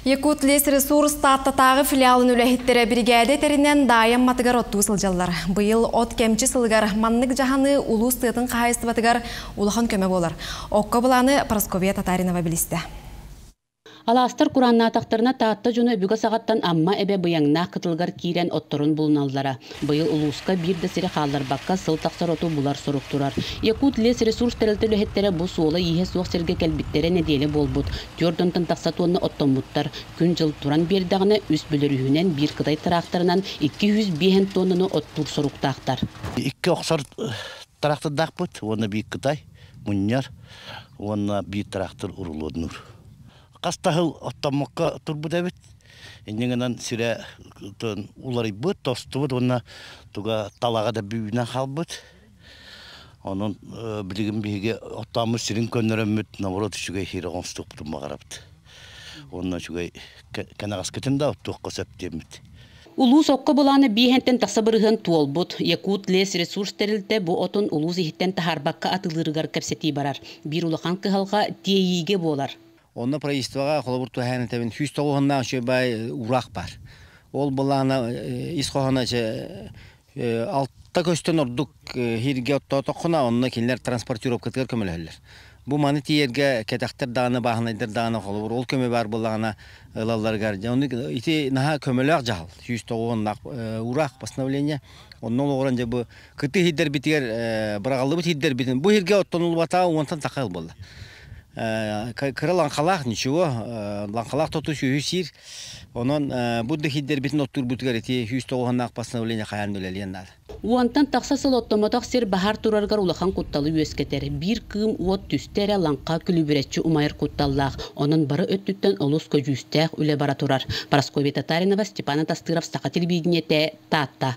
Якутлесресурс Тааттатааҕы филиалын үлэһиттэрэ биригээдэ этэринэн Даайа Амматыгар оттуу сылдьаллар. Быйыл от кэмчи сылыгар маннык дьаһаны улуус тыатын хаһаайыстыбатыгар улахан көмө буолар. Окко былааны Прасковья Татаринова билистэ. Алаастар курааннаатахтарына Таатта дьоно өбүгэ саҕаттан Амма эбэ быйаҥнаах кытылыгар киирэн отторун булуналлара. Быйыл улууска биир да сири хаалларбакка сыл тахсар оту булар сорук турар. Якут-лесресурс тэрилтэ үлэһиттэрэ бу суола-ииһэ суох сиргэ кэлбиттэрэ нэдиэлэ буолбут, түөрт онтон тахса тонна оттоммуттар. Күн-дьыл туран биэрдэҕинэ, үс бөлөрүүһүнэн биир кытай тыраахтарынан икки сүүс биэһэн тоннаны оттуур соруктаахтар. Икки охсор тыраахтардаахпыт уонна биир кытай мунньар уонна биир тыраахтар урулуодунуур. хас да сыл оттоммокко турбут эбит. Инньэ гынан сирэ уларыйбыт, тостубут уонна туга талаҕа да бүбүнэн хаалбыт. Онон билигин биһиги оттооммут сирин көннөрөммүт, наоборот үчүгэй иһири оҥостукпутун баҕарабыт. Уонна үчүгэй кэнэҕэскитин да оттуохха сөп диэммит. Улуус окко былаана бииһэнтэн тахса бырыһыан туолбут. Якут лесресурс тэрилтэ бу отун улуус иһиттэн таһаарбакка атылыырыгар кэпсэтии барар. Биир улахан кыһалҕа тиэйиигэ буолар. Онно правительствоҕа холобур туһаайан этэбин, сүүс тоҕуһуннаах үчүгэй баай ураах баар. Ол былаана ис хоһооно Алта көстөн ордук иһиргэ оттоотоххуна, онно кинилэр транспортировкатыгар көмөлөһөллөр. Бу маны тиийэргэ кэтэхтэр даҕаны, бааһынайдар даҕаны холобур ол көмө баар буоллаҕына ылалларыгар дьэ ону ити наһаа көмөлөөх дьаһал сүүс тоҕуоннаах уураах постановление онно олоҕуран дьэ бу кытыы иһирдэрбитигэр быраҕыллыбыт иһирдэрбитин бу иһиргэ оттонуллубатаҕа уонтан такка ыл буолла. кыра лаҥхалаах ничего лаҥхалаах тоту-сүөһү сиир онон бу дэхиддэрбитин оттуурбутугар ити сүүс тоҕуһуннаах постановление хайаан үлэлиэн наада уонтан тахса сыл оттомотох сир баһар турарыгар улахан кутталы үөскэтэр биир кыым уот түстэ эрэ лаҥха күлүбүрэччи умайар кутталлаах онон бары өттүттэн олус көдьүүстээх үлэ бара турар Прасковья Татаринова Степан Атастыров саха телевидение Таатта